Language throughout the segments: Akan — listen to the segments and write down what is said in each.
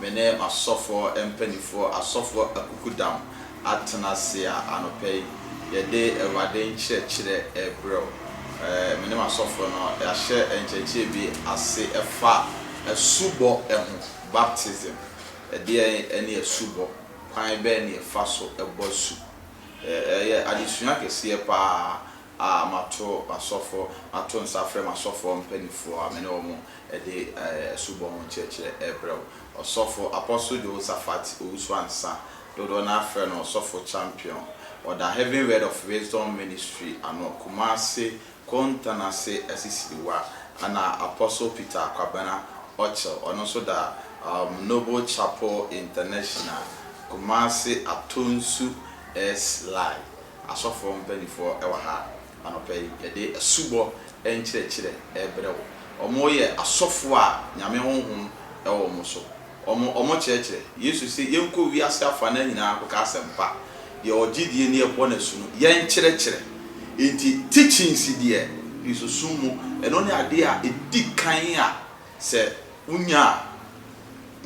me ne m'asɔfoɔ mpanimfoɔ, asɔfoɔ akukudam, atena ase a, anɔpa yi, yɛde Awurade nkyerɛkyerɛ rebrɛ wo. Me ne m'asɔfoɔ no, yɛahyɛ nkyerɛkyerɛ bi ase fa asubɔ ho, baptism. Ɛdeɛn ne asubɔ? Kwan bɛn na yɛfa so bɔ asu? Ɛyɛ adesua kɛseɛ pa ara. a mato m'asɔfo, mato nsa afrɛ m'asɔfoɔ mpaninfoɔ a me ne wɔn de asubɔ ho nkyerɛkyerɛ rebrɛ wo. Ɔsɔfo, Apostle Jehoshaphat Owusu-Ansah, dodoɔ no ara frɛ no Ɔsɔfo Champion, ɔda Heaven Word of Wisdom Ministry ano, Kumasi, Kontanase, Asisiriwa, ɛna Apostle Peter Kwabena Okyel, ɔno nso da Noble Chapel International, Kumasi, Atonsu, Esly. Asɔfoɔ mpaninfoɔ wɔ ha anɔpa yi, yɛde asubɔ nkyerɛkyerɛ rebrɛ wo. Wɔn yɛ asɔfoɔ a Nyame Honhom wɔ wɔn so. Wɔn, wɔn kyerɛkyerɛ. Yesu se, yɛnkɔ wiase afanan nyinaa nkɔka asɛmpa. Deɛ ɔgye die ne ɛbɔ no asu no, yɛnkyerɛkyerɛ. Enti teachings deɛ, Kristosom mu, ɛno ne adeɛ a ɛdi kan a sɛ wonya a,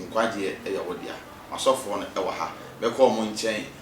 nkwagyeɛ yɛ wo dea. M'asɔfoɔ no wɔ ha, bɛkɔ wɔn nkyɛn.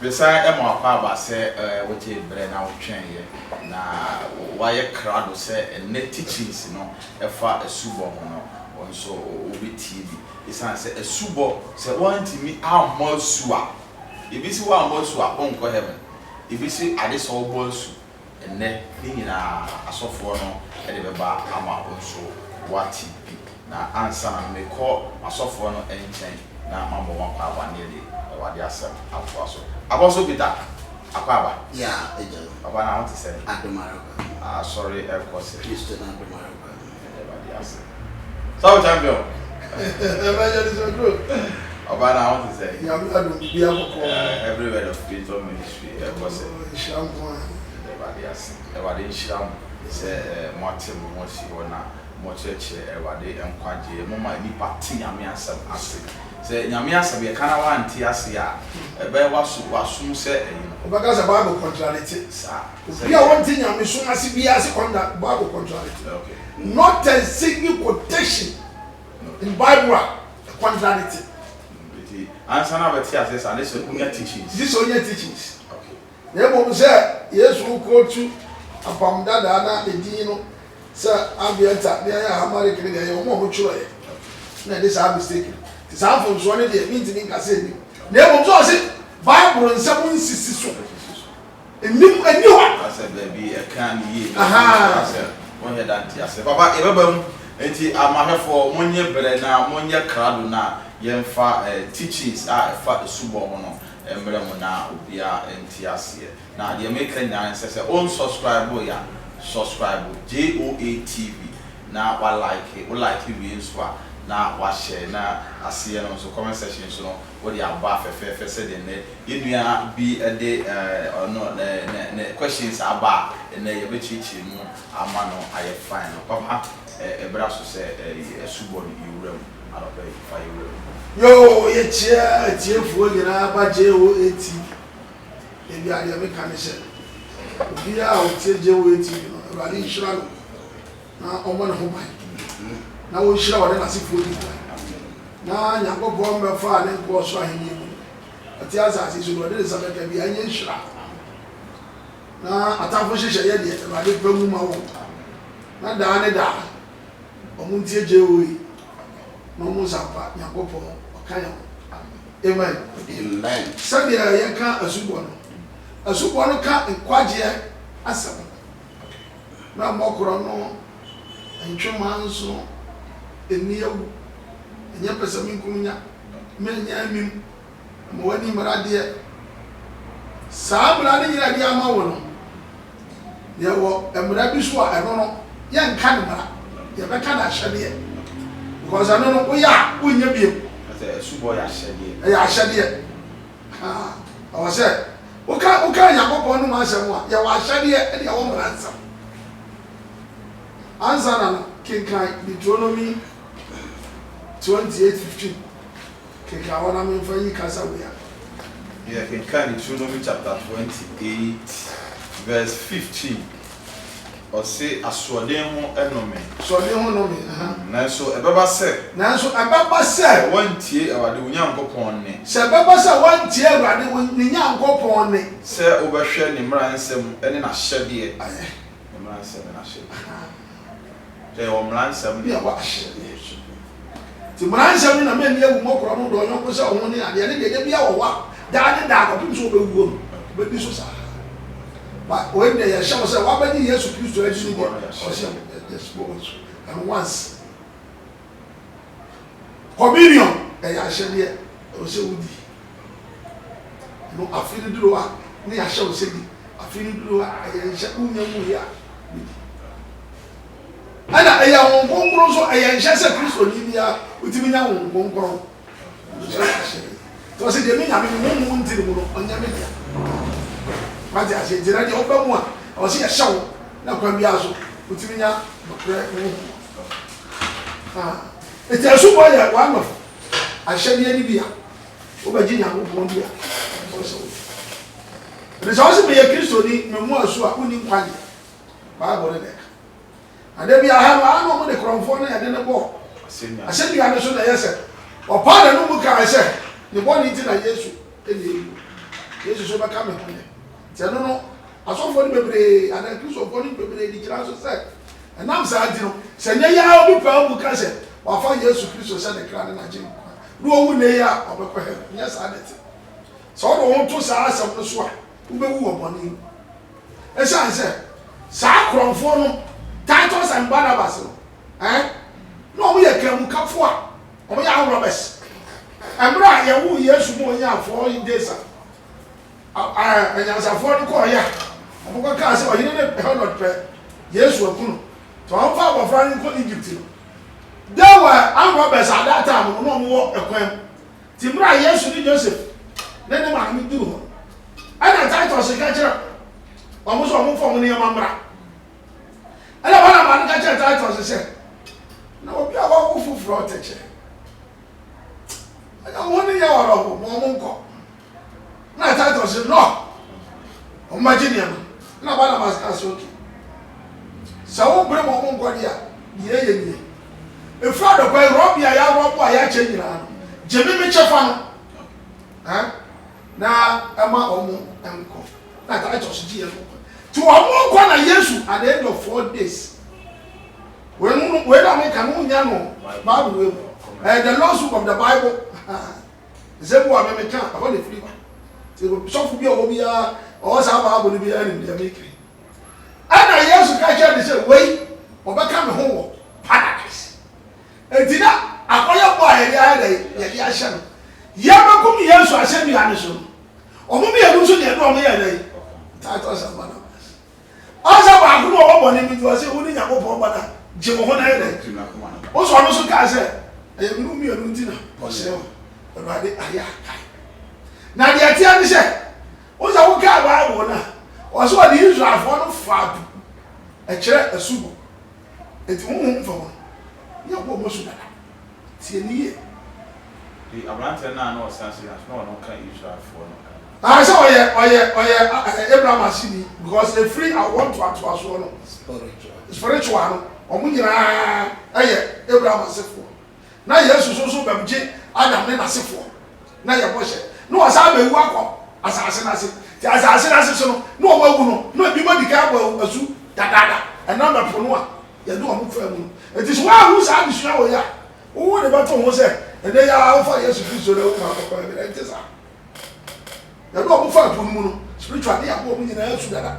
Mesan ma w'akwaaba sɛ wogyee berɛ na wotwɛn'eɛ na woayɛ krado sɛ ɛnnɛ teachings no ɛfa asubɔ ho no wo nso wobɛtie bi. Esiane sɛ asubɔ sɛ woantumi ammɔ asu a, ebi se woammɔ asu a wonkɔ heaven, ebi se ade sɛ wobɔ asu Ɛnnɛ, ne nyinaa asɔfoɔ no de bɛba ama wo nso woate bi. Na ansa na mekɔ m'asɔfoɔ no nkyɛn na mabɔ mo akwaaba no yɛde Awurade asɛm atoa so. Abɔ so Peter! Akwaaba! Yea, Agya no. Papa, na wo te sɛn? Adom ara kwa. Asɔre rekɔ sɛn? Kristo no adom ara kwa. Sɔfo champion. Evangelist Oduro. Ọba na ahun ti sẹ. Nyame adum bibi akọkọ. Every word of spiritual ministry ẹ bọ sẹ. Nhyira nko a. Ẹda Ẹwurade ase. Ẹwurade nhyira mo sẹ mo ate mo ho asi hɔ na mo kyerɛkyerɛ Ẹwurade nkwagyeɛ. Mo ma nnipa te Nyame asɛm ase. Sɛ Nyame asɛm yɛ ka na wante ase a, ɛbɛyɛ waso wasom sɛ ɛyɛ no. Wobɛka sɛ Bible contradicte. Saa. Obi a ɔnte nyamesom ase biara se ɔnda Bible contradict not a single quotation in Bible a contradict. Nti ansa na abɛte aseɛ saa ne sɛ onya teachings. Gye sɛ onya teachings. Na mmom sɛ Yesu wo quote apam dadaa na edin no sɛ Ambienta ne ayɛ Ahamalik no deɛ ɛyɛ wɔn a wɔn twerɛɛ na ɛde saa mistake no. Nti saa mfomsoɔ no deɛ mentumi nka sɛ ɛnim. Na mmom sɛ ɔse Bible nsɛm nsisi so. nnim ɛnyɛ hɔ. Asɛ baabi ɛka ne yie bɛ Ahaa. asɛ wɔn yɛ da nte asɛ papa yɛ bɛba mu nti amahwɛfoɔ mo nyɛ brɛ na mo nyɛ krado na yɛ nfa eh teachings a ɛfa asubɔ ho no mbrɛ mo na obia nte aseɛ na deɛ meka nyinaa ne sɛ sɛ on subscribe yɛ a subscribe JOA TV na wa like wo like wie nso a na wa share na aseɛ no nso comment section nso no Wode aba fɛfɛɛfɛ sɛdeɛ nnɛ yɛn nua bi de ɔno ne questions aba a nnɛ yɛbɛkyerɛkyerɛ mu ama no ayɛ fine no. Papa ɛbra so sɛ asubɔ no yɛ wura mu anɔpa yi fa yɛ wura mu. Yoo yɛkyia atiefoɔ nyinaa ba JOA TV ebia deɛ meka ne sɛ obiara a ɔtie JOA TV no Awurade nhyira no. na ɔmmɔ ne ho ban na ɔnhyira ɔne n'asefoɔ nyinaa, na Nyankopɔn mmɛfa ne nkoa ɔsoro ahennie mu ɔte asase yi so na ɔde ne nsa bɛka bi anyɛ nhyira na atamfo nhyehyɛ yɛ deɛ Awurade pɛ mu ma wɔn na daa ne daa wɔn ntie JOE na wɔn nsa mpa Nyankopɔn ɔka yɛn ho Amen. Amen. Sɛdeɛ yɛka asubɔ no, asubɔ no ka nkwagyeɛ asɛm. na mmɔkorɔ no ntwe mmaa nso nni awu, ɛnyɛ pɛsɛmenkominya, menyɛ amim, mma w'ani mmra adeɛ. Saa mmara no nyina a yɛde ama wo no, yɛwɔ mmara bi so a ɛno no yɛnka no mmara, yɛbɛka no ahyɛdeɛ, because ɛno no woyɛ a wonyɛ bio. Ɛyɛ ahyɛdeɛ. Ɛwɔ sɛ woka woka Nyankopɔn no mu asɛm a, yɛ w'ahyɛdeɛ ɛne ɛwɔ mmara nsɛm. Ansa na no, kenkan Deuteronomy 28:15. Kenkan hɔ na memfa yi kasa wei ano. Yɛkenkan Deuteronomy chapter 28 verse 15 Ɔse asoɔden ho nnome. Asoɔden ho nnome, aha. Nanso ɛbɛba sɛ. Nanso ɛbɛba sɛ. Sɛ woantie Awurade wo Nyankopɔn nne. Sɛ ɛbɛba sɛ woantie Awurade wo ne Nyankopɔn nne. Sɛ wobɛhwɛ ne mmara nsɛm ne n'ahyɛdeɛ. Ayɛ. Ne mmara nsɛm ne n'ahyɛdeɛ. Aha. Hwɛ, yɛwɔ mmara nsɛm ne ɛwɔ ahyɛde ne nhwɛso mu. Enti mmara nsɛm ne na ma nni awu mmɔ korɔ no, dɔ wo yɔnko sɛ wo ho ne adeɛ ne deɛ da biara wɔ hɔ a, daa ne daa kɔpem sɛ wobɛwuo no, wobɛdi so saa ara. Ba, wei deɛ yɛhyɛ wo sɛ, woabɛgye Yesu Kristo adi ne deɛ ɔse, yes, go on, and once. Communion yɛ ahyɛdeɛ ɛwɔ sɛ wodi no afe no duru a ne yɛahyɛ wo sɛ di afe no duru a ɛyɛ nhyɛ wonya nwui a wobɛdi ɛna ɛyɛ Honhom Kronkron nso ɛyɛ nhyɛ sɛ Kristoni biara wotumi nya Honhom Kronkron nso sɛ ahyɛdeɛ nti ɔsɛ deɛ me Nyame me honhom nti ne mu no ɔnyɛ me dea wate aseɛ nti na deɛ woba mu a ɔsɛ yɛhyɛ wo na kwan biara so wotumi nya nokorɛ honhom Nti asubɔ yɛ one of ahyɛdeɛ no bi a wobɛgye Nyankopɔn di a ɛwɔ sɛ wodi. Ɛnti sɛ wose meyɛ Kristoni, memu asu a, wonni nkwagyeɛ. Bible no na ɛka. Na da bi aha no, ana wɔde korɔmfoɔ ne ɛde no bɔ asɛnnua no so na ɛyɛ sɛ ɔpaa n'ano mu kae sɛ ne bɔne nti na Yesu na ɛwuo. Yesu so bɛka me ho yɛ. Nti ɛno no Asɔfoɔ no bebree anaa Akristofoɔ no bebree de gyina so sɛ ɛnam saa nti no, sɛ nnɛ yi ara obi paa mu ka sɛ wafa Yesu Kristo sɛ ne kra ne n'agyenkwa na ɔwu nnɛ yi a, ɔbɛkɔ hɛɛva. Nyɛ saa na ɛte. Sɛ wode wo ho to saa asɛm no so a, wobɛwu wɔ bɔne mu. Ɛsiane sɛ saa korɔmfoɔ no, Titus and Barnabas no, ɛn, na wɔyɛ kanmukafoɔ a wɔyɛ armed robbers. Mmerɛ a yɛwoo Yesu ma ɔnyaa four days a, Anyansafoɔ no kɔeɛ a, wɔkɔkaa sɛ, Ɔhene no Herod pɛ Yesu aku no, nti ɔmfa abɔfra no nkɔ Egypt no. There were armed robbers at that time, wɔn a wɔwɔ ɛkwan mu. Nti mmerɛ a Yesu ne Joseph ne ne maame duru hɔ no, ɛna Titus ka kyerɛ wɔn sɛ wɔmfa wɔn nneɛma mmra. Ɛna Barnaba no ka kyerɛ Titus sɛ, Na obi a wawo foforɔ te kyɛ. Ɛna wɔn ne yɛ wɔrɔho ma wɔn nkɔ. Na Titus ɔsi no wɔn ba gye nneɛma na Barnabas ka sɛ oke sɛ wo bere wɔn nkɔde a nea ɛyɛ nie efiri adɔkwa yi rɔbi a yɛaboaboa a yɛakyɛ nyinaa no gye me me kyɛfa no ɛn na ɛma wɔn nkɔ na Titus gye yɛ no kɔ ti wɔn nkɔ na Yesu at the end of four days wɔn wɔn na wɔn ka no nya no Bible wɔ mu ɛɛ the lawsuit of the Bible. Nsɛm bi wɔ hɔ a me meka a, ɛhɔ na ɛfiri ba. Nti sɔfo bi a ɔwɔ hɔ biara, ɔwɔ saa Bible no bi ara nim deɛ meka yi. Ɛnna Yesu ka kyerɛɛ no sɛ, Wei, wɔbɛka me ho wɔ Paradise. Enti na akɔyɛbɔ a yɛde ayɛ dɛn? Yɛde ahyɛ no. Yɛrebɛkum Yesu asɛnnua no so no, wɔn mmienu nso deɛ, na wɔyɛɛ dɛn? Titus Barnabas. Ɔsɛ baako mu a ɔwɔ bɔne no nti, ɔse wone Nyankopɔn ba no a, gye wo ho na yɛ dɛn? Wosɔ ɔno nso kae sɛ, Ɛyɛ menom mmienu nti na ɔsee wo. Awurade ayɛ akae. Na deɛ ɛteɛ ne sɛ, wohu sɛ wokae Bible no a, ɔse ɔde Israelfoɔ no faa du kyerɛ asubɔ. Enti honhom fam no, Nyankopɔn mmɔ su dada. Tie me yie. Nti abranteɛ no a na ɔsea sɛ Yah so na ɔno ka Israelfoɔ no ho. Aah sɛ ɔyɛ ɔyɛ ɔyɛ ɛ Abraham aseni because efiri awoɔ ntoatoasoɔ no spiritual no wɔn nyinaa yɛ Abraham asefoɔ na Yesu so nso bɛm gye Adam ne n'asefoɔ na yɛ bɔhyɛ na wɔsan abɛwu akɔ asaase no ase nti asaase no ase so no na wɔn awu no na ebinom adi kan abɔ asu dadaada ɛnam ɛpo no a yɛde wɔn faa mu no. Enti sɛ woanhu saa adesua wei a, wo wode bɛto ho sɛ ɛnnɛ yi ara wofa Yesu Kristo na woka no kɔkɔ awie. Ɛnte saa. Yɛde wɔn faa po no mu no, spiritual ne yɛaboa wɔn nyinaa su dada.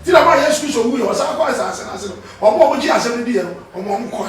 Nti na bere a Yesu Kristo wuiɛ, ɔsan kɔɔ asase no ase no, wɔn a wɔgyee asɛm no diiɛ no, wɔma wɔn kɔe.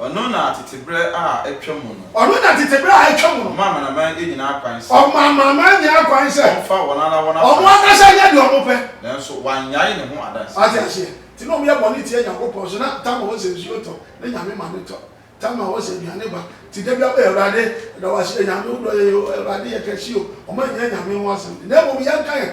Ɔno na tete berɛ a atwa mu no. Ɔno na tete berɛ a atwa mu no. Ɔma amanaman nyinaa kwan sɛ. Ɔma amanaman nyinaa kwan sɛ. Wɔmfa wɔn ara wɔn asaseɛ. Wɔn ankasa nyɛ deɛ wɔpɛ. Nanso wannyae ne ho adanseɛ. Wate aseɛ? Nti na wɔyɛ bɔne tia Nyankopɔn. So na tam a ɔwɔ sɛ nsuo tɔ ne Nyame ma no tɔ? Tam a ɔwɔ sɛ aduane ba? Nti da biara wɔyɛ, Awurade, yɛda wo ase o, Nyame, wodɔ yɛn o, Awurade, yɛ kɛse o. Wɔannyina Nyame ho asɛm. Na mmom yɛnka yɛn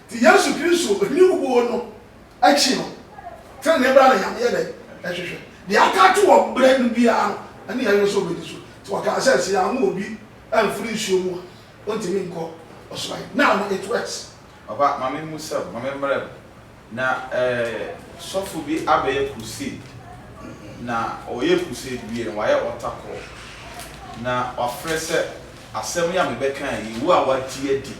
Te Yesu Kristo Ohene wuo no akyi no, trenee bra na Nyame yɛ dɛn? Ɛhwehwɛ. Deɛ aka ato wɔ berɛ no biara no, ɛne Yɛhwehwɛ sɛ ɔbɛdi so. Nti ɔkaa sɛ, sɛ yɛammo obi amfiri nsuo mu a, ɔntumi nkɔ ɔsoro ayɛ. Now no it works. Papa ma me mmusa o, ma me mmrɛ o, na eh sɔfo bi abɛyɛ crusade, na ɔyɛ crusade wie no wayɛ altar call, na wafrɛ sɛ asɛm yi a mebɛka yi, wo a wagye adi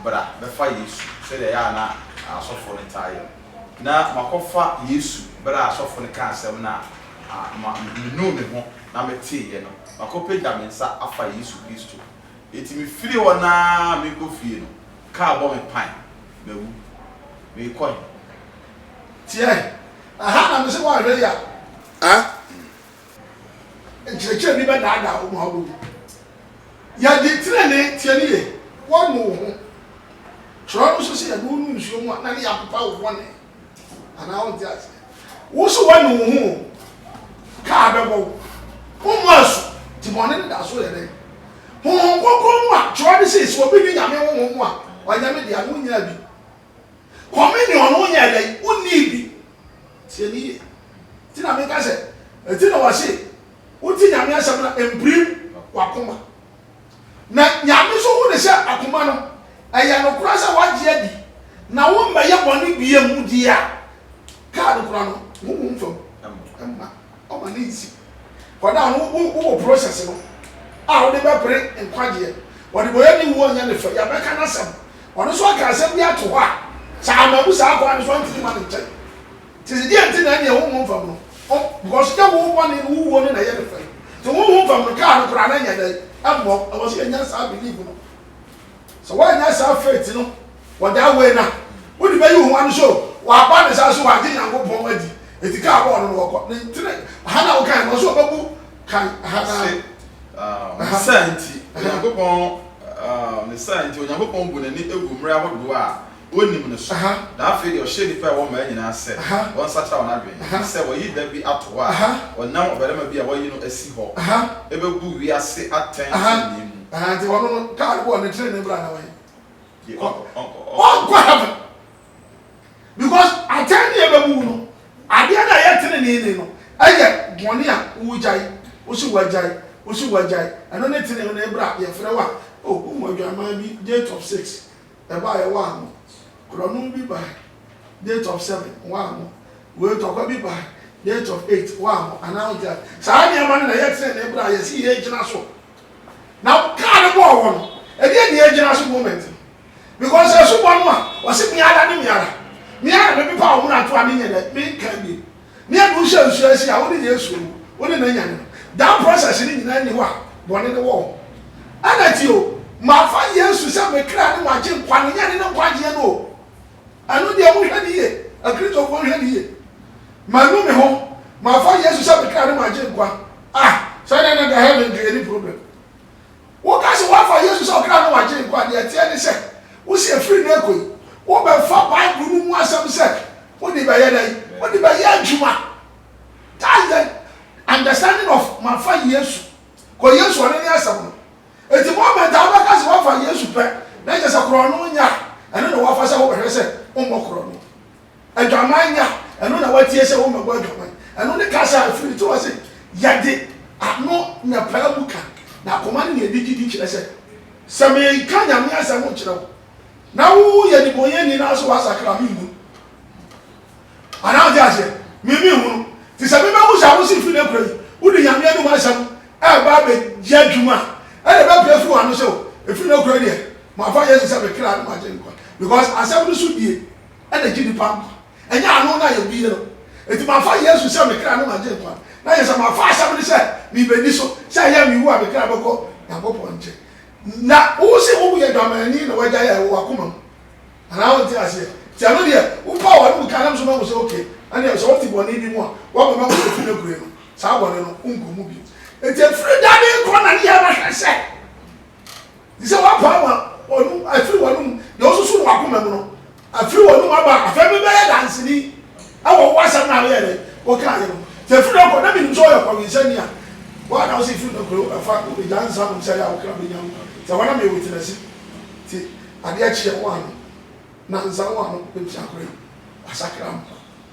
Bra bɛfa Yesu, sɛdeɛ ɛyɛ a na asɔfoɔ no taa yɛ no. Na makɔfa Yesu berɛ a asɔfoɔ no kaa asɛm no a, ma menuu ne ho na meteeɛ no. Makɔpagya me nsa afa Yesu Kristo. Enti mefiri hɔ no ara merekɔ fie no, kaa bɔ me pan. Mawu. Merekɔ he? Teɛ he? Aha na mese woanhwɛ yi a. Ah! Nkyerɛkyerɛ bi bɛdaadaa wo ma wobɔ hu. Yɛde tenenee, tie no yie, wɔnu wo ho. Twerɛ no nso sɛ yɛde wo nu nsuo mu a, na ne yɛapepa wo bɔne. Anaa wonte aseɛ? Wo nso woanu wo ho o, kaa bɛbɔ wo. Wommɔ asu, nti bɔne no da so yɛ dɛn? Honhom Kronkron no a twerɛ no se, sɛ obi nni Nyame Honhom mu a, ɔnyɛ me dea no, wonyaa bi. Communion no wonyɛɛ dɛn? Wonnii bi. Tie me yie. Nti na meka sɛ, ɛnti na wɔse, wote Nyame asɛm no a, mpirim w'akoma. Na Nyame nso hu ne sɛ akoma no, ɛyɛ nokorɛ sɛ woagye adi, na wommɛyɛ bɔne biam, deɛ a, kaad kora no, honhom fam mma. Ɔma ne nsi. Wɔn a wo, wo, wowɔ process no a wode bɛpere nkwagyeɛ. Ɔdebɔyɛni nwu a ɔnyɛ ne fɛ, yɛbɛka n'asɛm. Ɔno nso aka asɛm bi ato hɔ a, sɛ ammabu saa kwan no so a, ɔntumi mma ne nkyɛn. Nti se deɛ nti na ɛneɛ honhom fam no, ɔm, because nyɛ wo bɔne no, wo wuo no na ɛyɛ ne fɛ. Nti honhom fam no, kaa no koraa no nyɛ dɛn? Ɛmmɔ. Ɛwɔ sɛ yɛnya saa believe no. Sɛ woannya saa faith no Wɔ that way no a, wode bɛyi wo ho ano sɛ waba ne saa so wagye Nyankopɔn adi, enti kaa bɔɔ no no wɔkɔ. Ne nti na ha na wokae no, ɔsɛ ɔbɛbu kan ha na. Se, uh, ne saa nti, Onyankopɔn, uh, ne saa nti, Onyankopɔn bu n'ani egu mmere ahodoɔ a onim no so, na afei deɛ ɔhyɛ nnipa a ɛwɔ mmaa nyinaa sɛ wɔnsakyera wɔn adwene, ne sɛ wɔyi da bi ato hɔ a wɔnam ɔbarima bi a wɔayi no asi hɔ bɛbu wiase atɛn trenee mu. Nti ɔno no, kaa bɔɔ ne trenee bra na wɔyɛ. ɔnkɔ heaven because atɛn ne ɛbɛmu no adeɛ no a ɛyɛ tene ne ne no ɛyɛ bɔne a wogyae wosi wagyae wosi wagyae ɛno ne tene no ɛbra yɛfrɛ wa o wohu adwaman bi date of six ɛba yɛ waa mo korɔno bi ba date of seven waa mo wei tɔkwa bi ba date of eight waa mo anaa wogyae saa nneɛma no na ɛyɛ tene ne ɛbra yɛsi yɛ gyina so Na ɔkaa no bɔɔ hɔ no ɛdeɛn na yɛgyina so moment no because asubɔ no a ɔse me ara ne me ara me ara na me pepa wo mmarato a me nyɛ dɛ me nka bio ne ɛde wo hyɛ nsuo ase a wo ne Yesu owu wo ne no anya no that process no nyinaa nni hɔ a bɔne no wɔ hɔ ɛna ti o mafa Yesu sɛ me kra ne magye nkwa no nyɛ ne ne nkwagyeɛ no o. Ɛno deɛ monhwɛ no yie, Akristofoɔ nhwɛ no yie. Manu me ho, mafa Yesu sɛ me kra ne m'agyenkwa. Ah, sɛ ɛnɛ na da heaven nka yɛnni problem. Woka sɛ woafa Yesu sɛ ɔkra ne w'agyenkwa a, deɛ ɛteɛ ne sɛ, wose ɛfiri nnɛ rekɔ yi, wobɛfa Bible no mu asɛm sɛ wode bɛyɛ dɛn? Wode bɛyɛ adwuma. That's the understanding of mafa Yesu. Kɔ Yesu, ɔno ne asɛm no. Enti Mormon taa bɛka sɛ woafa Yesu pɛ, na ɛnyɛ sɛ korɔno nya a, ɛno na woafa sɛ wobɛhwɛ sɛ wommɔ korɔno. Adwaman nya a, ɛno na woatie sɛ wommɛbɔ adwaman. Ɛno ne kasa a ɛfiri ne tirim ase. Yɛde ano na ɛpaa mu ka, na akoma ne nea ɛde gyidi kyerɛ sɛ, Sɛ meka Nyame asɛm nkyerɛ wo, na woyɛ debɔneyɛni na sɛ woasakra a, menhu no. Anaa? Wote aseɛ? Me, menhu no. Te sɛ mebɛwo sɛ awose fi no akura yi, wode Nyame anom asɛm reba abɛdi adwuma a, ɛna ɛbɛpue afiri wɔn ano sɛ, O, ɛfiri nnɛ kura deɛ, mafa Yesu sɛ me kra ne m'agyenkwa. Because asɛm no so die na ɛgye nnipa nkwa. Ɛnyɛ ano na yɛbue no. Enti mafa Yesu sɛ me kra ne m'agyenkwa no, na kyerɛ sɛ mafa asɛm no sɛ merebɛdi so, sɛ ɛyɛ a mewu a me kra bɛkɔ Nyankopɔn nkyɛn. Na wo se wo yɛ adwamanni na w'agya yɛ wɔ w'akoma mu. Anaa wonte aseɛ? Nti ɛno deɛ, wo paw anum ka nam so ma wo sɛ okay, ɛnneɛ sɛ wote bɔne bi mu a, woakɔma wo sɛ fi no kura no. saa bɔne no wonkɔ mu bio. Enti ɛfiri da ne nkɔ na ne yɛ bɛhwɛ sɛ te sɛ woapaa ma wɔnom afiri wɔnom deɛ wosusu no wakoma mu no afiri wɔnom aba a afei mebɛyɛ danseni ɛwɔ wo asɛm no a woyɛ dɛ wokaa yɛ no sɛ ɛfiri da nkɔ na menim sɛ ɔyɛ kɔwensani a woa na wo sɛ ɛfiri da nkɔ ɛfa wobɛgya nsa nom sɛ yɛ a wokra bɛnya wo sɛ wɔna meyɛ witnɛse nti adeɛ kyeɛ wo ano nansa wo ano bɛtua kora wasakra mpa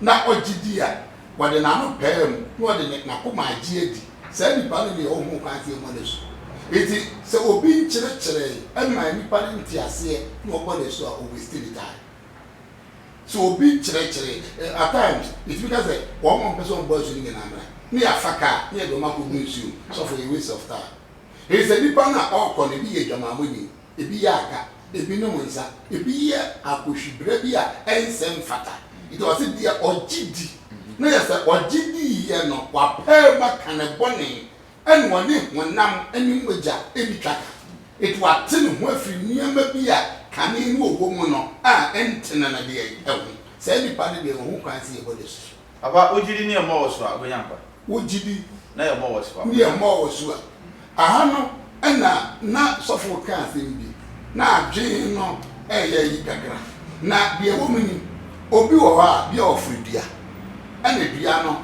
na ɔgye di a, ɔde n'ano paa mu na ɔde ne n'akoma agye adi. Saa nipa no deɛ ɔhunu kwan sɛ ɛmmɔ no asu. Enti sɛ obi nkyerɛkyerɛe mmaa nnipa no nte aseɛ na ɔbɔ no asu a, ɔ waste ne time. Sɛ obi nkyerɛkyerɛe, at times yɛtumi ka sɛ wɔn a wɔpɛ sɛ wɔbɔ asu no nyinaa mmra na yɛafa car na yɛde wɔn akɔgu nsuo mu, sɔfo yɛ waste of time. Enti sɛ nipa no a ɔrekɔ no ebi yɛ adwamammɔni ebi yɛ aga, ebi nom nsa, ebi yɛ akohwibra bi a ɛnsɛ mfata. Nti ɔse deɛ ɔgye di na yɛ sɛ ɔgye di yɛ no wapɛɛmu aka ne bɔne ɛna ɔne honam ne mogya ɛdi twa ka. Nti wate ne ho afiri nneɛma bi a kane no ɔwɔ mu no a ɛntene no deɛ ho. Saa nipa no deɛ ɔhu kwan sɛ yɛbɔ no asu. Papa, wo gyidi ne ɛmmɔ wo so a, wobɛnya nkwa. Wo gyidi. Ne ɛmmɔ wo so a, wobɛnya nkwa. Ne ɛmmɔ wo so a. Aha no na na sɔfo reka asɛm bi. Na adwene no reyɛ ayi kakra. Na deɛ ɛwɔ mu ni, obi wɔ hɔ a, bia ɔforo dua. Ɛna dua no,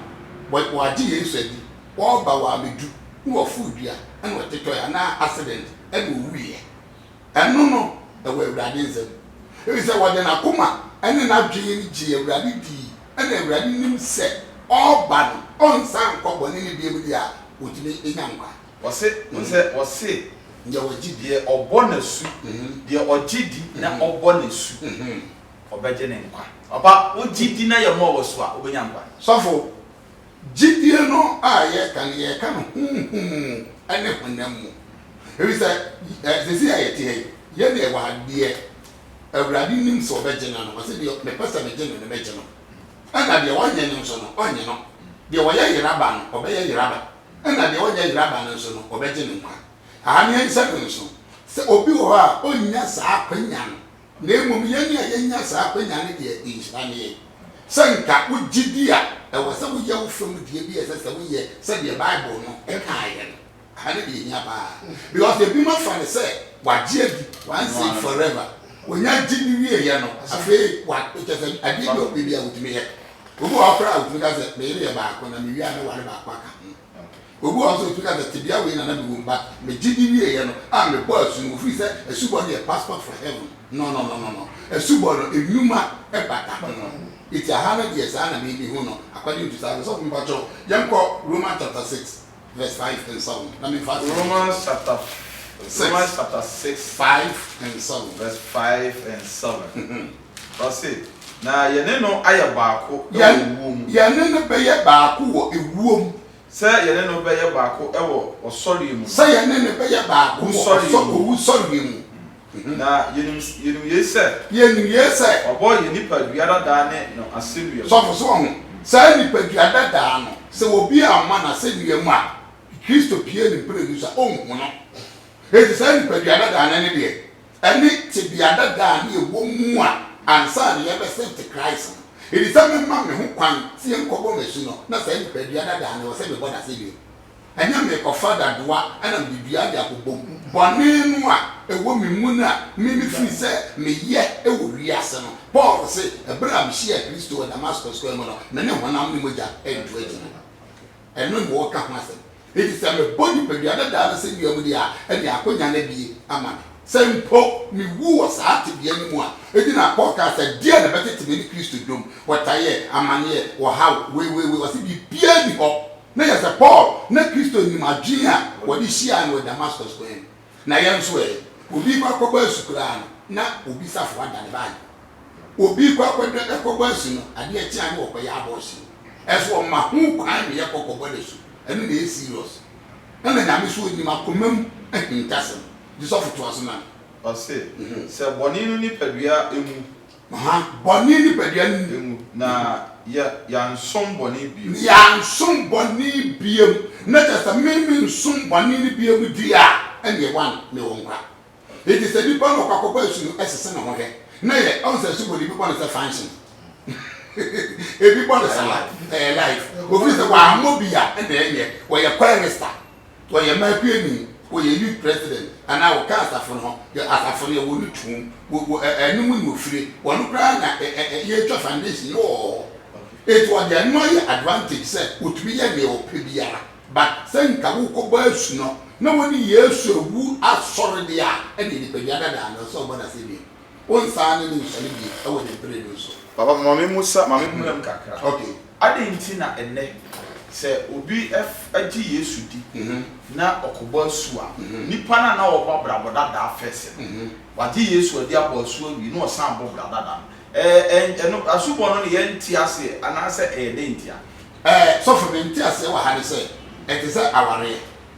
wagye Yesu adi, ɔreba, wamɛdu, na waforo dua, ɛna ɔtetɔɛ, anaa accident, ɛna ɔwuiɛ. Ɛno no, ɛwɔ Awurade nsam. Ɛfiri sɛ ɔde n'akoma ne n'adwene gyee Awurade dii, ɛna Awurade nim sɛ ɔreba no, ɔrensan nkɔ bɔne mu bio deɛ a, ɔtumi nya nkwa. Ɔse, Wohu sɛ ɔse, Deɛ ɔgye di. Deɛ ɔbɔ no asu, deɛ ɔgye di na ɔbɔ no asu, ɔbɛgye ne nkwa. Papa, wogye di na yɛmmoa wo asu a, wobɛnya nkwa. Sɔfo, Gyidie no a yɛreka no, yɛreka no honhom mu ne honam mu. Ɛfiri sɛ, seesei a yɛte ha yi, yɛn deɛ ɛwɔ ha, deɛ Awurade nim sɛ ɔbɛgye no no, ɔse deɛ mepɛ sɛ megye no no mɛgye no. Ɛna deɛ ɔnyɛ no nso no, ɔnye no. Deɛ ɔyɛ yera ba no, ɔbɛyɛ yera ba. Ɛna deɛ ɔnyɛ yera ba no nso no, ɔbɛgye no nkwa. Aha no yɛnsɛ no nso sɛ obi wɔ hɔ a ɔnnya saa akwanya no. Na mmom yɛn a yɛanya saa akwanya no deɛ, nhyira nie, sɛ nka wo gyidie a ɛwɔ sɛ woyɛ wo fam deɛ bi a ɛsɛ sɛ woyɛ sɛdeɛ Bible no kaeɛ no. Aha ne deɛ ɛhia pa ara, because ebinom afa no sɛ wɔagye adi once and forever, wɔnya gye no wieeɛ no, afei wa, kyerɛ sɛ adeɛ bi a wɔpɛ biara wɔtumi yɛ. Obi wɔ hɔ koraa a ɔtumi ka sɛ, me yere yɛ baako na mewie a mɛware baako aka ho. Obi wɔ hɔ nso a otumi ka sɛ, Tebea wei na na mewɔ mu, but me gyidi wieeɛ no, ah, mebɔɔ asu no, wɔfiri sɛ asubɔ no yɛ passport for heaven. No, no, no, no, no. Asubɔ no, nnwuma bata ho. Enti aha no deɛ, saa na merebehu no, according to saa. Ɔsɔfo, mpakyɛw, yɛnkɔ Romans chapter six, verse five and seven, na memfa aseɛ. Romans chapter, Romans chapter six, five and seven, verse five and seven. Ɔse, Na yɛne no ayɛ baako wɔ owuo mu. Yɛne no bɛyɛ baako wɔ ewuo mu. Sɛ yɛne no bɛyɛ baako wɔ ɔsɔreɛ mu no. Sɛ yɛne no bɛyɛ baako wɔ ɔsɔ, owusɔreɛ mu. Na yɛnim, yɛnim yei sɛ. Yɛnim yei sɛ. Wɔbɔɔ yɛn nipadua dadaa ne no asɛnnua mu. Sɔfo, so wahu? Saa nipadua dadaa no, sɛ obi amma no asɛnnua mu a, Kristo pue ne mprenu so a, ɔnhu no. Enti saa nipadua dadaa no ne deɛ? ne tebea dada a na yɛwɔ mu a ansa na yɛrebɛsan te Christ no, edi sɛ memma me ho kwan sɛ yɛnkɔbɔ m'akyi no, na saa nipadua dada no, ɛwɔ sɛ mebɔ no ase bio. Ɛnyɛ merekɔfa dadoa na mede dua de akɔbom. Bɔne no a ɛwɔ me mu no a me mefiri sɛ meyɛ wɔ wiase no, Paul se, ɛberɛ a mehyiaa Kristo wɔ Damascus kwan mu no, me ne honam ne mogya antu agyina. Ɛno na ɔreka ho asɛm. Enti sɛ mebɔ nipadua no daa no sɛ dua mu deɛ a, ɛnneɛ akɔnya no abue ama me. Sɛ mpo mewu wɔ saa tebea no mu a, ɛgyina Paul kaa sɛ, deɛn na ɛbɛtete me ne Kristo dwom? Ɔtaeɛ, amaneɛ, ɔhaw, weiweiwei, ɔse biribiara nni hɔ. Na yɛ sɛ Paul na Kristo nim adwene a wɔde hyiae no wɔ Damascus kwan mu. Na yɛn nso ɛ? Obi rekɔ akɔbɔ asu koraa no, na obi safoa ada ne baage. Obi rekɔ akɔbɔ asu no, adeɛ kye a na ɔrekɔyɛ abortion. Ɛso ɔma ho kwan ma yɛkɔ kɔbɔ no asu. Ɛno na ɛyɛ serious. Ɛna Nyame nso ɔnim akoma mu ahintasɛm. Gyesɔfo toa so ma me. Ɔse, Sɛ bɔne no nipadua mu Bɔne nipadua no mu. Na yɛansom bɔne bio. Na yɛansom bɔne bio. Na kyerɛ sɛ, me mensom bɔne no bio di a, ɛnneɛ one, mewɔ nkwa. Enti sɛ nipa no ɔkɔ akɔbɔ asu no, sese ne ho hwɛ. Na yɛ, ɔhu sɛ asubɔ no, ebi bɔ no sɛ function. Ebi bɔ no saa, ɛyɛ life. Ofiri sɛ, wammɔ bi a, ɛnneɛ ɛnyɛ. Wɔyɛ kɔɛ ne star. Sɛ ɔyɛ Makueni, ɔyɛ Youth President anaa ɔka asafo no ho, yɛ asafo no yɛ wɔ no tuom, wɔ wɔ ɛ ɛno mu na ɔfire, wɔn koraa na ɛ ɛ ɛ yɛtwa foundation no wɔ hɔ. Enti ɔde ɛno ayɛ advantage sɛ ɔtumi yɛ deɛ ɔpɛ biara. But sɛ nka wo kɔ bɔ asu no na wo ne Yesu awu asɔre deɛ a, ɛneɛ nipadua dadaa no ɛsɛ ɔbɔ no aseɛ bio. Wo nsaa ne no nsɔre bio ɛwɔ ne bere no so. Papa ma me musa ma me mmrɛ mu kakra. Okay. Adɛn nti na ɛnnɛ, sɛ obi gye Yesu di na ɔkɔbɔ asu a, nnipa no a na wɔbɔ abrabɔ dada afɛ sɛ wɔagye Yesu adi abɔ asu awie na wɔsan bɔ bra dada no? Ɛɛ, ɛno, asubɔ no no, yɛnte aseɛ anaasɛ ɛyɛ dɛn ntia? Ɛɛ, sɔfo, me nteaseɛ wɔ ha ne sɛ, ɛte sɛ awareɛ.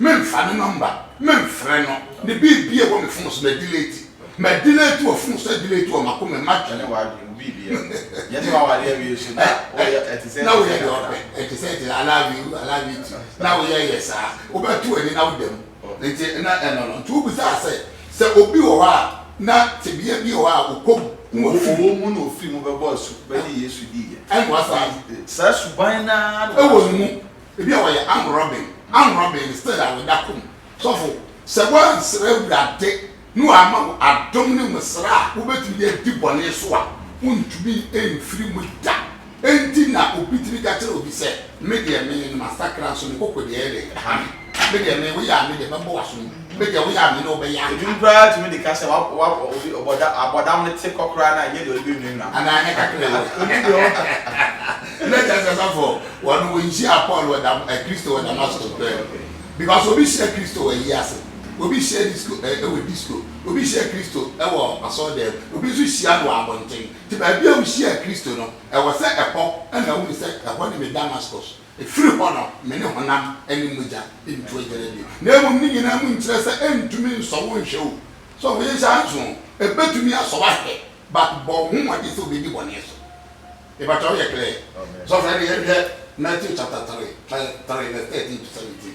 Memfa ne nɔmba memfrɛ no. Ne biribiara wɔ me fon so madileeti. Madileeti wɔ fon so adileeti wɔ m'akoma mu matwe no. Na woyɛ deɛ ɔpɛ ɛte sɛ ɛte sɛ I love you I love you too na woyɛ yɛ saa wobɛto w'ani na woda mu nti na ɛno no nti wobisaa sɛ sɛ obi wɔ hɔ a na tebea bi wɔ hɔ a ɔkɔ gu wɔ fi mu. Ɔwɔ mu na ɔfiri mu bɛbɔ asu bɛgye Yesu diiɛ. Ɛnnoa saa no. Saa suban no ara na ɔda so. Ɛwɔ ne mu. Ebi a wɔyɛ arm robbing, arm robbing no still a wɔda kɔ mu. Sɔfo, sɛ woansrɛ Awurade na wamma wo adom ne nwosra a wobɛtumi de adi bɔne so a, wontumi mfiri mu da. Enti na obi tumi ka kyerɛ obi sɛ, Me deɛ, me, masakra nso me koko deɛ ɛyɛ den, ɛha me. Me deɛ, me, woyɛ a, me deɛ, mɛbɔ w'asom gu. Ebe deɛ woyɛ amene wo bɛyɛ aka. Edum koraa tumi de ka sɛ wa wa obi ɔbɔda abɔdam no te kɔ koraa na ɛnyɛ deɛ ɔde bɛnwinwina ho. Anaa ɛnyɛ kakra yi o. Ɔnim deɛ ɔka. Na kyerɛ sɛ sɔfo wɔn wɔnhyiaa Paul wɔ Dam ɛ Kristo wɔ Damasko pɛɛ no because obi hyia Kristo wɔ ayi ase obi hyia disco ɛ ɛwɔ disco obi hyia Kristo ɛwɔ asɔre dɛm obi nso hyia no wɔ abɔnten nti baabi a wohyiaa Kristo no ɛwɔ sɛ ɛhɔ ɛna wohu sɛ ɛhɔ ne me Damasko Ɛfiri hɔ no, me ne honam ne mogya ntu agyana bio. Na mmom ne nyinaa mu nkyerɛ sɛ ɛntumi nsɔ wo nhwɛ o. So woye saa nso o? Ɛbɛtumi asɔ w'ahwɛ but bɔ wo ho mmɔden sɛ wobɛdi bɔne so. Mepakyɛw yɛ clear? Sɔfo ɛne yɛnhwɛ Matthew chapter three, try three verse thirteen to seventeen.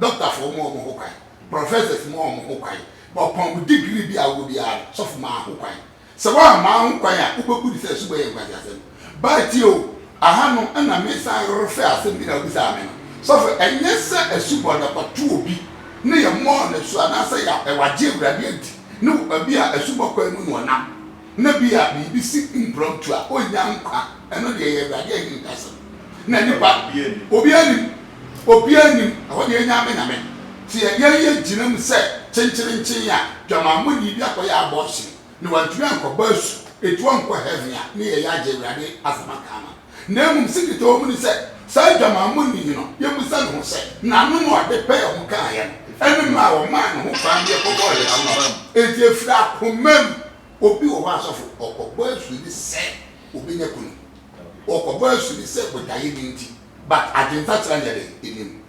Dɔktafoɔ mmoa wɔn ho kwan, professors mmoa wɔn ho kwan, na ɔpɔn mu degree bi a wowɔ biara no, sɔfo maa ho kwan. Sɛ woammaa ho kwan a, wobɛbu no sɛ asubɔ yɛ nkwaseasɛm. Baa tie o, ahanom na mesan refɛ asɛm bi na wobisaa me no. Sɔfo, ɛnyɛ sɛ asubɔ no ɛkɔto obi ne yɛmmɔɔ no asu anaasɛ yɛagye Awurade adi ne wɔ baabi a asubɔ kwan mu na ɔnam. na ebia biribi si mprɔmtu a, onnya nkwa. Ɛno deɛ ɛyɛ Awurade ahintasɛm. Na nnipa, obiara nnim. Obiara nnim. Ɛhɔ deɛ ɛnyɛ ame Nyame. Sɛ yɛn yɛ gyina mu sɛ kyenkyerenkyen a, dwamammɔni bi akɔyɛ abortion, na wantumi ankɔbɔ asu, enti ɔnkɔ Heaven a, ne yɛyɛ agye Awurade asɛm aka ama no. Na mmom Sikitoɔ hunu sɛ saa adwamammɔni yi no, yɛbisa ne ho sɛ, n'ano na ɔde pɛɛ ho kaeɛ no, ɛne mmerɛ a ɔmaa ne ho kwan deɛ kɔbɔɔ yɛn no aba mu. Enti ɛfiri akoma mu. Obi wɔ hɔ a, asɔfo, ɔkɔbɔ asu ne sɛ ɔbɛnya kunu, ɔkɔbɔ asu ne sɛ botaeɛ bi nti, but adwene fakyera no yɛdɛn? Nnim.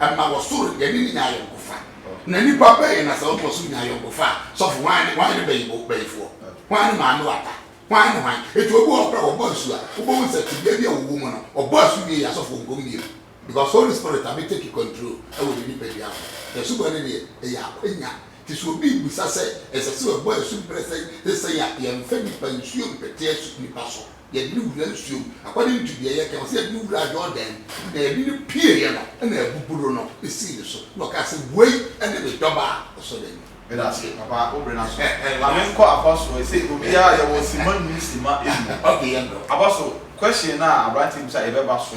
ɛma wɔsoro yɛne no nya ayɔnkofa. Na nnipa bɛn na sɛ wɔkɔ soro nya ayɔnkofa a, sɔfo, hwan ne hwan ne bayibo, bayifoɔ? Hwan ne maame wata? Hwan ne hwan? Enti obi wɔ hɔ koraa a wɔbɔ asu a, wobɛhu sɛ tebea bi a wɔwɔ mu no, ɔbɔ asu wie yi a, sɔfo ɔnkɔ mu bio. Because Holy Spirit abɛ take control wɔ ne nipadua ho. Na asubɔ no deɛ, ɛyɛ akwanya. Nti sɛ obi rebisa sɛ ɛsɛ sɛ wɔbɔ asu berɛ sɛn ne sɛn a, yɛmfa nnipa nsuo mpete asu nnipa so. Yɛde no wuraa nsuom. According to deɛ yɛka, wɔse yɛde no wuraa Yordan mu, na yɛde no pieeɛ no, ɛna abuburo no sii ne so, na ɔkaa sɛ, Woi ne me dɔba a ɔsɔ n'ani. Medase papa wo bere no aso ma me nkɔ afa so ɛ sɛ obiara yɛwɔ sima num sima enu okay yɛ mmerɛ wo. Aba so question no a abranteɛ bisa yɛbɛba so.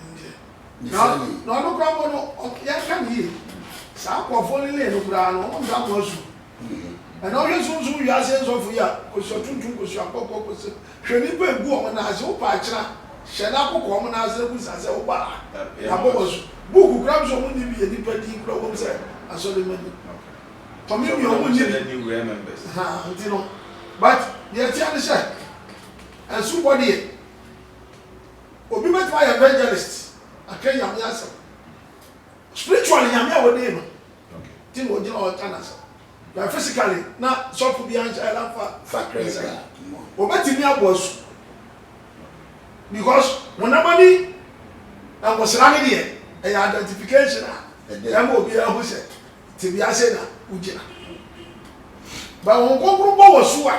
Ɛnde. Na na ɔno koraa mpo no, ɔk yɛnhwɛ no yie. Saa nkurɔfoɔ no lee no koraa no, wɔn nsa ano asu. Ɛnna wohwɛ sunsum wiase nsɔfo yi a, kosua tuntum, kosua kɔkɔɔ, kosua Hwɛ nnipa a egu wɔn nan ase, wopɛ akyena, hyɛ no akokɔ wɔn nan ase na bisa sɛ, Wobɔ ha? Yɛabɔ wo asu. Book koraa bi sɛ wɔn nni bi yɛ nnipa din koraa wom sɛ asɔremma ni. Tɔ me nua, wɔn nni bi. Ahaa, nti no, but deɛ ɛteɛ ne sɛ, asubɔ deɛ. Obi bɛtumi ayɛ evangelist aka Nyame asɛm. Spiritually Nyame a wɔdii no nti na ɔgyina hɔ reka n'asɛm. But physically na sɔfo biara nhyɛ ayɛ n'afa sakre nsɛ a, ɔbɛtumi abɔ asu. Because honam ani ngosra no deɛ ɛyɛ identification a ɛma obiara hu sɛ. Tsebea sɛn na wogyina? Bɛn Honhom Kronkron bɔ wɔ su a,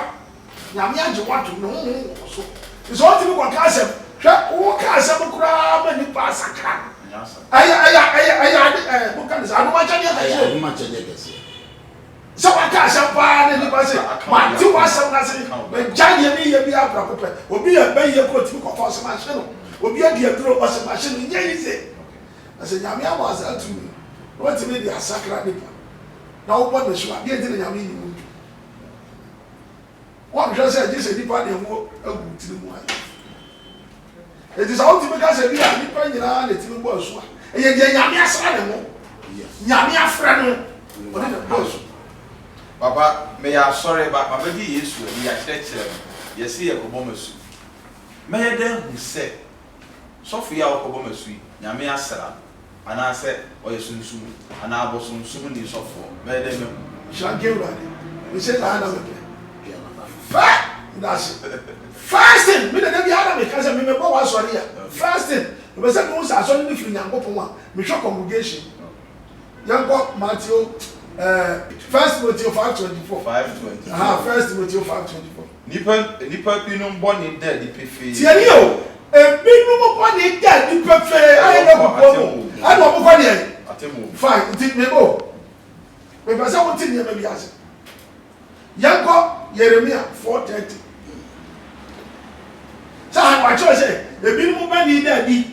Nyame agye wo atom, No Honhom wɔ wo so. Nsɛ wotumi kɔka asɛm. Hwɛ, woka asɛm koraa ma nipa asakra. Ɛyɛ, ɛyɛ, ɛyɛ, ɛyɛ ade, ɛɛ, monka no sɛ, adomakyɛdeɛ kɛseɛ. Ɛyɛ adomakyɛdeɛ kɛseɛ. Sɛ waka asɛm paa na nipa se, Mate w'asɛm no ase, magyae deɛ mereyɛ biara prɛko pɛ. Obi yɛ bɛyɛ koro, otumi kɔfa, ɔse, Mahye no. Obi adi aduro, ɔse, Mahye no. Nyɛ yize. Na sɛ Nyame ama wo saa tumi no, na watumi de asakra nipa, na wobɔ no asu a, deɛ nti na Nyame nyi wo nto mu? Wɔnhwɛ sɛ gye sɛ nipa de ɛho agu wo tiri mu ayɛ. Enti sɛ wotumi ka sɛ ebia nipa nyinaa na ɛtumi bɔ asu a, ɛyɛ deɛ Nyame asra ne ho, Nyame afrɛ no, ɔne na bɔ asu. Papa, meyɛ asɔre ba, mabɛgye Yesu adi, yɛakyerɛkyerɛ me, yɛse yɛkɔbɔ m'asu. Mɛyɛ dɛn ahu sɛ. Sɔfo yi a ɔkɔbɔ m'asu yi, Nyame asera no, anaasɛ ɔyɛ sunsum, anaa abosonsomni sɔfoɔ? Mɛyɛ dɛn mahu? Nhyira nka Awurade, mese saa ara na mepɛ. Fɛ ndaase. First thing, me na da biara na meka sɛ me mɛbɔ w'asɔre a, first thing, mepɛ sɛ mehu sɛ asɔre no firi Nyankopɔn a, mehwɛ congregation. Yɛnkɔ Mateo, eh, First Timoteo five twenty four, Five twenty four. aha, First Timoteo five twenty four. Nnipa nnipa binom bɔne da adi pefee. Tie nie o, ebinom bɔne da adi pefee a ɛnyɛ Wɔ kɔkɔɔ no atemmuo mu. ɛna wɔkɔ deɛn? Atemmuo mu. Fine, nti me ba o, mepɛ sɛ wote nneɛma bi ase. Yɛnkɔ Yeremia four thirty. Sɛ aha na wɔatwerɛ sɛ, Ebinom bɔne da adi.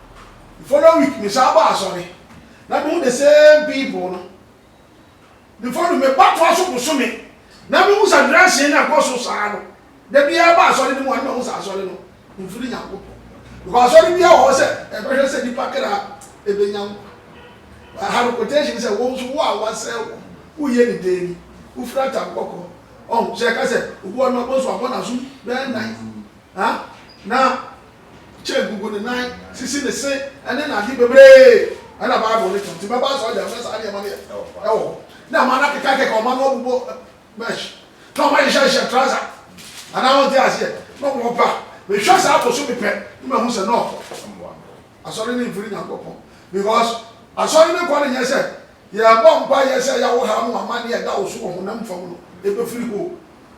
The following week me san baa asɔre na mehu the same people no before no me ba toa so bosome na mehu sa nranseɛ no ɛkɔ so saa no da biara ba asɔre no mu a na mahu sa asɔre no mfiri Nyankopɔn because asɔre biara wɔ hɔ sɛ ɛbɛhwɛ sɛ nipa kra ɛbɛnya nkwa ɛha no quotation sɛ wɔn nso wo a wasɛe wɔn woyɛ ne dɛn ni wofira tam kɔkɔɔ ɔho sɛ ɛka sɛ obu ɔno abɔ so abɔ n'aso bɛyɛ nan Ha na Cheng gugu ne nan, sisi ne se, ne n'ade bebree na Bible no kyerɛ. Nti mɛba asɔrdan mu na saa nneɛma no yɛ wɔ hɔ. Na mma no akekakeka, mma no abobɔ mesh, na wɔahyehyɛhyehyɛ trouser. Anaa wonte aseɛ? Na wɔba. Mehwɛ saa bosome pɛ na mahu sɛ no, asɔre no mfiri Nyankopɔn. Because asɔre no kɔ no nyɛ sɛ yɛrebɔ mpaeɛ sɛ yaw haw no, amanneɛ a ɛda wo so wɔ honam fam no, ɛbɛfiri hɔ o.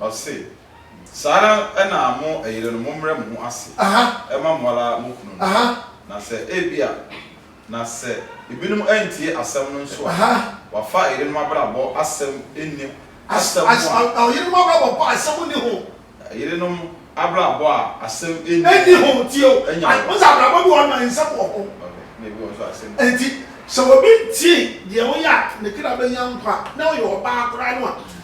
Ɔse, Saa ara na mo ɛyerenom mommrɛ mo ho ase mma mo ara mo kununom, na sɛ ebia, na sɛ ebinom antie asɛm no nso a, wɔafa ɛyerenom abrabɔ asɛm nni ho asɛm ho a. Ɛyerenom abrabɔ a asɛm nni ho. Ɛyerenom abrabɔ a asɛm nni ho. Tie o, wohu sɛ abrabɔ bi wɔ hɔ nom a nsɛm wɔ ho. Ɛna ebi wɔ hɔ nso a asɛm nni ho. Enti sɛ obi ntie deɛ woyɛ a ne kra bɛnya nkwa a, na ɔyɛ ɔbaa koraa no a,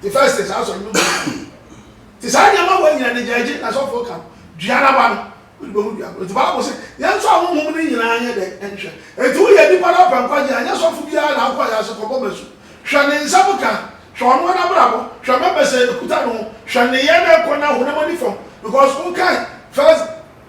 The first is asɔre no mu yie. Nti saa nneɛma wɔ nyina ne gyaagye na sɔfoɔ ka dua no aba no wode bɛhu dua korɔ. Nti Bible se yɛn nso ahonhom no nyinaa nyɛ dɛn nhwɛ. Nti woyɛ nipa na wopɛ nkwagye a nyɛ sɔfo biara na wokɔ ayaase kɔbɔ masu. Hwɛ ne nsɛm ka, hwɛ ɔnoa nabrabɔ, hwɛ mɛmɛsɛ ɛkuta ne ho, hwɛ nneyɛɛ na ɛkɔ na honam ani fam because wokae first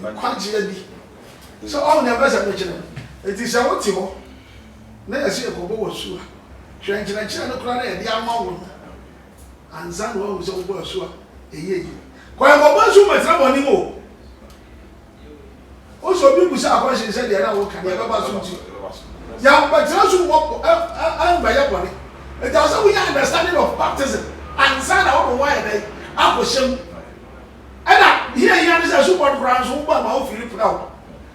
nkwagyeɛ bi. Sɛ ɔho deɛ mɛsɛ mekyerɛ wo. Enti sɛ wo te hɔ na yɛse yɛkɔbɔ wo asu a, hwɛ nkyerɛkyerɛ no koraa na yɛde ama wo no ansa na woahu sɛ wobɔ asu a ɛyɛ yie. Kɔ yɛn kɔbɔ asu mmɛtena mo anim o. Wo sɛ obi busa question sɛ deɛ na wo ka deɛ ɛbɛba aso nti yɛn bɛtena so mmɔ ɛmbɛyɛ bɔne. Enti ɛwɔ sɛ wo nya understanding of baptism ansa na wode wo ho ayɛ dɛn akɔhyɛ mu. Ɛna nea ehia ne sɛ so bɔ no koraa nso wobɔ ma ofi repra wo,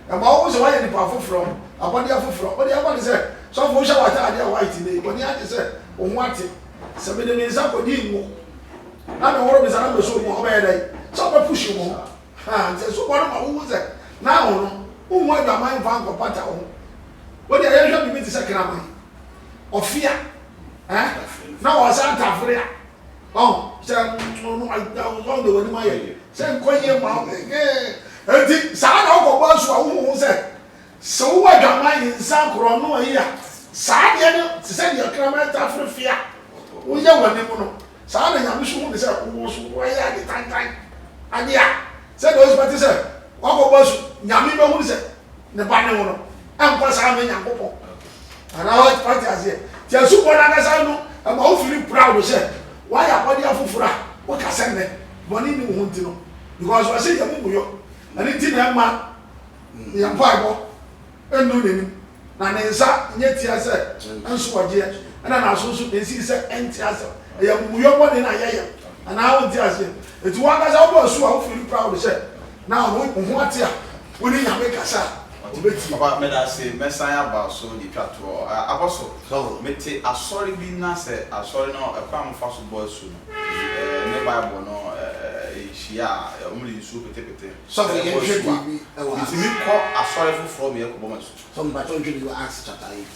na ma wohu sɛ woayɛ nipa foforɔ, abɔdeɛ foforɔ. Wode aba no sɛ, Sɔfo, wohyɛ w'atadeɛ a white nnɛ yi, w'ani agye sɛ wo ho ate? Sɛ mede me nsa kɔdi ngo na mehoro me nsa na meso mu a, wobɛyɛ dɛn? Sɛ wobɛpuhye wo ho? Haa, nti so bɔ no ma wohu sɛ na wo no, wonhu adwaman mfa nkɔpata wo ho. Wode ayɛ hwɛ biribi te sɛ kraman, ɔfea, eh, na wɔsa atafere a. Ɔho sɛ ɔno ɔda wo ɔno de w'anim ayɛ sɛ nkɔ yie ma wo nti saa na ɔkɔ bɔ asu a wohu ho sɛ sɛ wowɔ adwaman yi nsa korɔ no ayi a saa deɛ no te sɛ deɛ kraman ta fere fie a woyɛ w'anim no saa na nyame so hu ne sɛ wowɔ so woayɛ ade tantan ade a sɛ deɛ ɔsɛ bɛte sɛ wakɔ bɔ asu nyame bɛhu ne sɛ ne ba ne wo no ɛmpa saa mɛ nyankopɔn Anaa wate wate aseɛ? Ti asubɔ no ankasa no ɛma wo firi proud sɛ wayɛ abɔdeɛ afoforɔ a woka sɛ nnɛ bɔne nni wo ho nti no because wɔse yɛ mumuyɔ ɛno nti na ɛmma yɛ mpaebɔ ɛnnu n'anim na ne nsa nyɛ tia sɛ ɛnso ɔgyeɛ ɛna n'aso nso ɛnsii sɛ ɛnte asɛm ɛyɛ mumuyɔ bɔne na yɛyɛ anaa wonte aseɛ? Ɛti wo ankasa wobɔ asu a wo firi proud sɛ Na wo wo ho ate a, wo ne Nyame kasa a, Obetie. Papa medase mɛsan aba so de twa toɔ ɛ abɔso mete asɔre bi na sɛ asɔre no ɛkwan a ɔmo fa so bɔ asu no ɛ ne bible no ɛ nhyia a ɛ ɔmo de nsuo pete pete Sɔfo ɛbɔ yɛnhwɛ asu a biribi ɛwɔ Acts. metumi kɔ asɔre foforɔ meyɛ kɔbɔ m'asu. Sɔfo mpakyɛw nhwɛ biribi wɔ Acts chapter eight.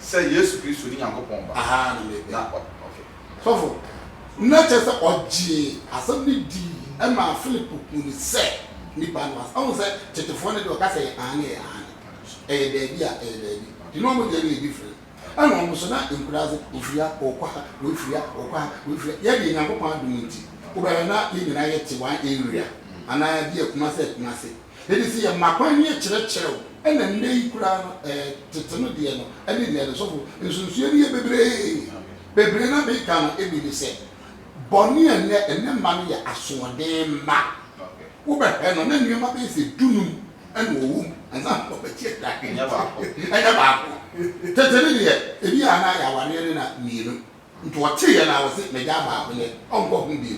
sɛ Yesu Kristo ne Nyankopɔn Ba. Ahaa, na mebɛ. Na ɔ, ok. Sɔfo, na kyerɛ sɛ ɔgyee asɛm no dii maa Philip huu no sɛ nipa no as. Ahu sɛ tetefoɔ no deɛ ɔka sɛ ɛyɛ aane ɛyɛ aane, ɛyɛ daabi a ɛyɛ daabi, nti na wɔn deɛ no yɛ different. Ɛna wɔn nso na nkuraase, ɔfiri ha, ɔɔkɔ ha, wei firi ha, ɔɔkɔ ha, wei firi ha. Yɛ deɛ Nyankopɔn adom nti, wobɛhwɛ na yɛn nyinaa yɛte one area, anaa bi yɛ Kumasi, Kumasi. Enti sɛ yɛma kwan ne yɛkyerɛkyerɛ wo, ɛna nnɛ yi koraa no, ɛɛ, tete no deɛ no, ɛne deɛ no, sɔfo, nsunsuanni yɛ bebree. Bebree no a meka no bi ne sɛ, bɔne a nnɛ, nnɛ mma no yɛ asoɔden mma. Wobɛhwɛ no, na nneɛma bɛyɛ sɛ dunum na wɔwɔ mu ansa na wɔbɛgye adi. Ɛnyɛ baako. Ɛnyɛ baako. Tete no deɛ, ebi a na ayɛ awareɛ no na mmienu. Nti ɔtseeɛ na ɔse m'egyaa baako nɛ ɔnnkɔ ho bio.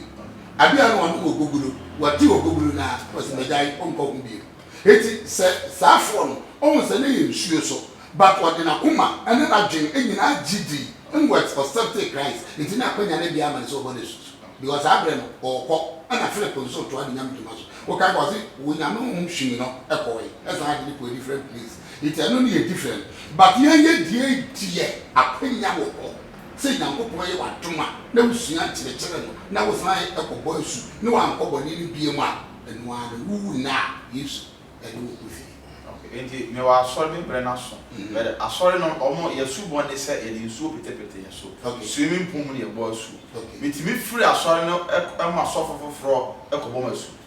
Aber a nna ɔno wɔ Gogoro, ɔtee Ogogoro no a, ɔse m'egyaa yi ɔnnkɔ ho bio. Ntsi sɛ saa foɔ no, ohun sɛ nna yɛ nsuo so, but ɔdze n'akoma ne n'adwen nyina gye dzii, nwet ɔsɛptee Christ, ntsi nna akwanya no bi ama no sɛ ɔbɔ n'esusu. Because saa berɛ no, ɔɔkɔ, nna Philip no so toa ne Nyame dwuma so, okaa kɔ, ɔse, Onyame honhom hwimii no kɔɔe, saan de no kɔɔ a different place. Nti ɛno ne yɛn different but yɛn yɛ deɛ deɛ akwanya wɔ hɔ sɛ Nyankopɔn yɛ w'adom a na wo sua nkyerɛkyerɛ no na wo san kɔ bɔ asu ne w'ankɔ bɔne no biom a ɛno ara no wo wu nna a Yesu ɛne wo kɔ fie. Okay nti me wɔ asɔre me brɛ no aso but asɔre no ɔmo yɛ su bɔ ne sɛ yɛde nsuo pete pete yɛn so swimming pool mu na yɛbɔ asu me tumi firi asɔre no ɛkɔ ɛma sɔfo foforɔ ɛkɔ bɔ m'asu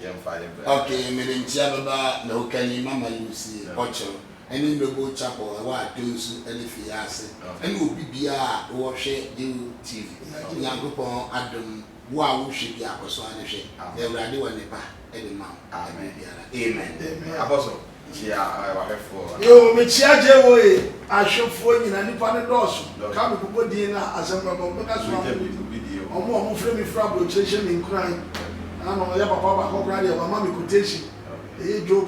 yɛmfa yɛ bra. Ok mede nkyea bɛba na woka yi mama yi wo sie ɔkyerw ɛne Noble chapel ɛwɔ Addo nsu ɛne fie ase ɛne obi biaa a wowɔ hwɛ Dew TV Nyankopɔn adom wo a wo hwɛ biaa kɔso ara ne hwɛ na Awurade wɔ ne ba ɛde ma wo ɛberɛ biara Amen. Amen abɔso Nkyia w'ahwɛfoɔ a. Yo, mekyia JOA ahwɛfoɔ nyina, nipa no dɔɔso, ka me bobɔ din na asɛm no aba mu, mɛka so ama mo, ɔmo a ɔmo frɛ me firi aburokyire hyɛ me nkuran, nano ɔyɛ papa baako koraa deɛ wama me quotation, ɛyɛ Job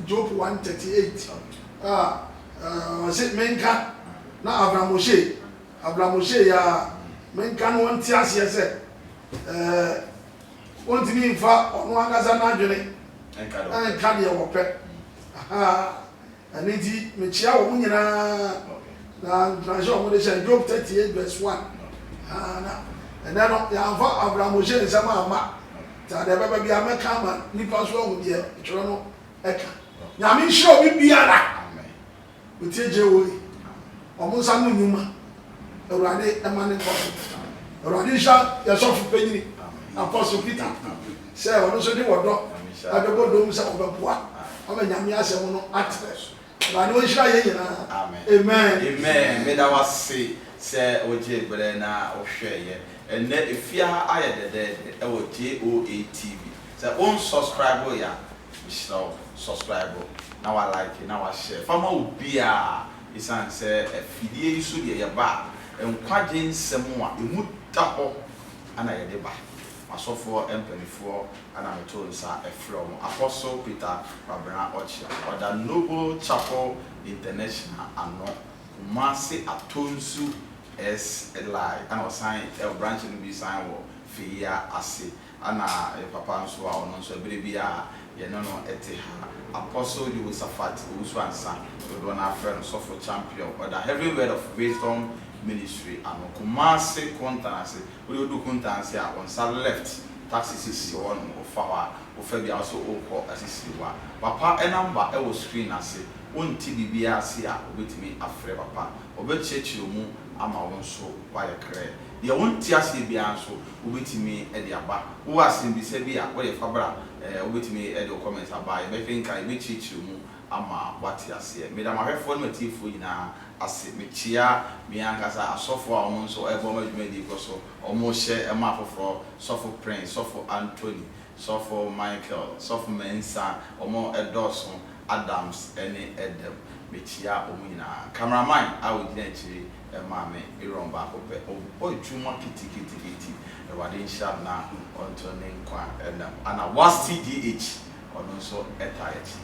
Job one thirty eight a ɔse menka na Abram Oshie Abram Oshie yaa menka na ɔnte aseɛ sɛ eh. Wɔntumi mfa wɔn ankasa n'adwene nka deɛ wɔpɛ. Ɛno nti, mekyea wɔn nyinaa. Na nkuranhyɛ a wɔde hyɛ no, Job thirty eight verse one. Na ɛnnɛ no, yɛamfa Abramo-hyɛ nsɛm amma. Nti adeɛ bɛba biara, mɛka ama nnipa nso ahu deɛ twerɛ no ka. Nyame nhyira obi biara. Wotie Jehoe, wɔn nsa ano nnwuma, Awurade ma ne nkɔso. Awurade nhyira yɛn sɔfo panyini Apostle Peter sɛ ɔno nso de wɔdɔ bɛbɔ dɔm sɛ ɔbɛboa ama Nyame asɛm no atrɛ so. Awurade ɔnhyira yɛn nyinaa. Amen. Amen meda wo ase sɛ wogyee berɛ na wohwɛɛ yɛ ɛnnɛ ɛfie ha ayɛ dɛdɛɛdɛ ɛwɔ JOA TV sɛ won subscribe yɛ a Mehyira wo, subscribe na wa like na wa share fa ma obiara esiane sɛ afidie yi so deɛ yɛba a, nkwagye nsɛm a ɛmu da hɔ na yɛde ba. M'asɔfoɔ mpaninfoɔ na meto nsa frɛ wɔn, Apostle Peter Kwabena Ɔkyea, ɔda Noble Chapel International ano, Kumasi Atonsu SLI, ɛna ɔsan, branch no bi san wɔ Feyia ase. Ana yɛ papa nso a, ɔno nso ɛberɛ bi a yɛne no te ha. Apostle Jehoshaphat Owusu-Ansa, dodoɔ no ara frɛ no Sɔfo Champion, ɔda Heaven Word of Wisdom Ministry ano, Kumasi Kuntanse. Wo deɛ wodu Kuntanse a, wo nsa left, taxi sisi hɔ nom, wofa hɔ a, wofa bi a, wo sɛ worekɔ Asisiriwa. Papa number wɔ screen ase, wo nte biribiara ase a, wobɛtumi afrɛ papa, ɔbɛkyerɛkyerɛ mu ama wo nso woayɛ krɛ. Deɛ wo nte aseɛ biara nso, wobɛtumi de aba. Wowɔ asɛmbisa bi a woyɛ fa bra, wobɛtumi de wo comment aba, yɛbɛkenkan, yɛbɛkyerɛkyerɛ mu ama woate aseɛ. Meda m'ahwɛfoɔ ne m'atiefoɔ nyinaa ase. Mekyea me ankasa asɔfoɔ a wɔn nso ɛreboa ma dwumadie yi kɔ so, wɔrehyɛ ma afoforɔ, Sɔfo Prince, Sɔfo Anthony, Sɔfo Michael, Sɔfo Mensah, wɔn dɔɔso, Adams ne Edem. Mekyia wɔn nyinaa. Cameraman a ogyina akyiri maa me Aaron baako pɛ. Ɔbɔ adwuma kitikitiki. Awurade nhyira no na ɔnto ne nkwa nna mu. Ana Wasti DH, ɔno nso taa yɛn akyi.